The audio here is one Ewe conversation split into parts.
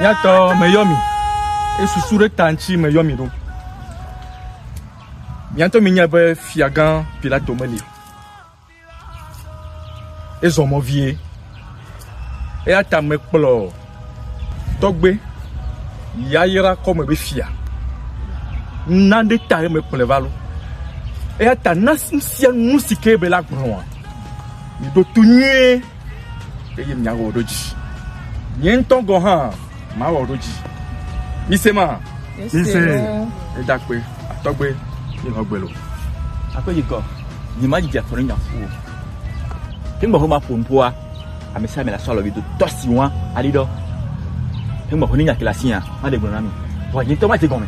Nyatɔ meyɔ mi. Esusu ɖe ta ŋuti meyɔ mi ɖo. Nyatɔ mi nya be fiagã Pilato meli. Ezɔ mɔ vie. Eya ta mekplɔ tɔgbe yayra kɔme be fia. Na ɖe ta ye mekplɔ va lo. Eya ta na sia nu si ke be la gblɔa. Mi ɖo to nyuie. eye miawɔ ɖo dzi. Nye ŋutɔ gɔ̃ hã mawɔ ɖo dzi. Mise ma. Mise. Edakpe, atɔgbe, yehɔgbe lo. Akpe yi gɔ, nyi ma didi afɔnu nya fu o. Hengba ho ma ƒo ŋpoa, ame sia ame la sɔ alɔ do tɔ si wa ali dɔ. Hengba ho ni nya kila si ya, ma de gblɔ na mi. Wa nyi tɔ ma te gɔme.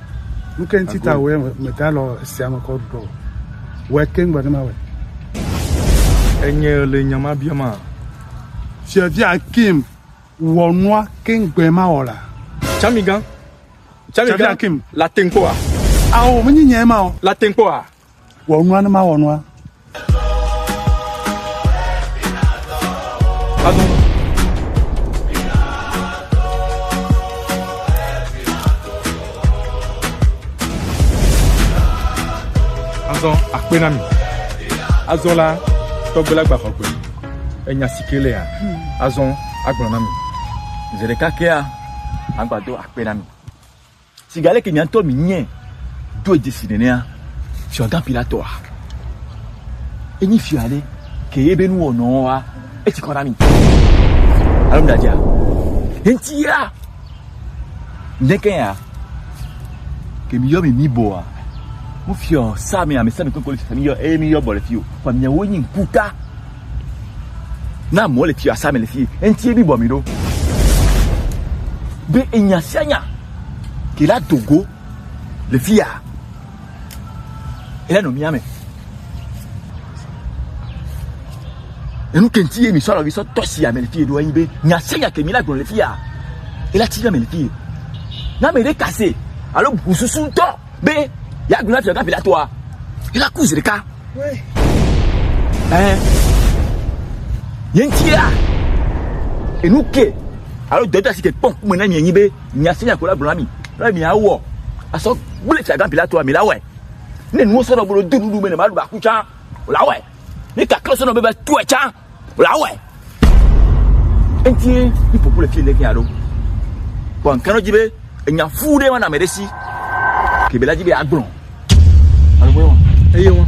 Nu ke ŋuti ta wòye meda lɔ esia me kɔ ɖuɖɔ o. Wɔe keŋ be ne mawɔe. Enye le nya ma bia ma. Fiavia Akim wɔ nua keŋ gbe ma wɔ la. Tsamigan. Tsamigan. Akim. La teŋ kpɔa. Ao, menye nyae ma o. La teŋ kpɔa. Wɔ nua ne mawɔ nua. Azɔ akpe na mi. Azɔ la, tɔgbe la gbaxɔ gbe. Enya si ke lea, azɔ agblɔ na mi. Zi ɖeka kea, agbado akpe na mi. Sigbe aleke nye ŋutɔ menye ɖo dzesi nenea, Fiagã Pilatɔa enyi fia aɖe ke ye be nuwɔnɔwoa etsi kɔ na mi. Alo mɖadzea? Hentia ŋkekea ke miyɔ mi mi bɔa mufia sa mi ame sa mi kpekpe le fia mi yɔ eye mi yɔ bɔ le fio. Kwa miawo nyi ŋkuta. Na amewo le tsi asame le fi eŋti ebi bɔ mi ɖo. Be enya sia nya ke la dogo le fi ya. Ele no mia me. Enu ke ŋti ye mi sɔlɔ vi sɔ tɔ si ame le fi ɖo enyi be nya sia nya ke mi la gblɔ le fi ya. Ele tsi nya me le fi. Na me ɖe kase alo bususu tɔ. Be yeagblɔ na fiagã Pilatɔa la ku zi ɖeka. Ɛɛ, ye ŋutia enu ke alo dɔdɔasi ke kpɔ ŋkume na mi enyi be miase nya ko la gblɔ na mi be miawɔ asɔ gblẽ fiagã Pilatɔa mi la wɔe. Ne nuwo sɔ nɔ be ɖo do nuɖuɖu me ne maɖu ba ku tsã o la wɔe. Ne kakle sɔ nɔ be va tɔe tsã Wòawɔe. Eŋuti mi ƒoƒu le fi le fi aɖo. Kpɔ ŋkɛnɔ dzi be enya fu ɖe wana ame ɖe si. Kebe la dzi be agblɔ. Alo wɔe wɔn. Eye wɔn.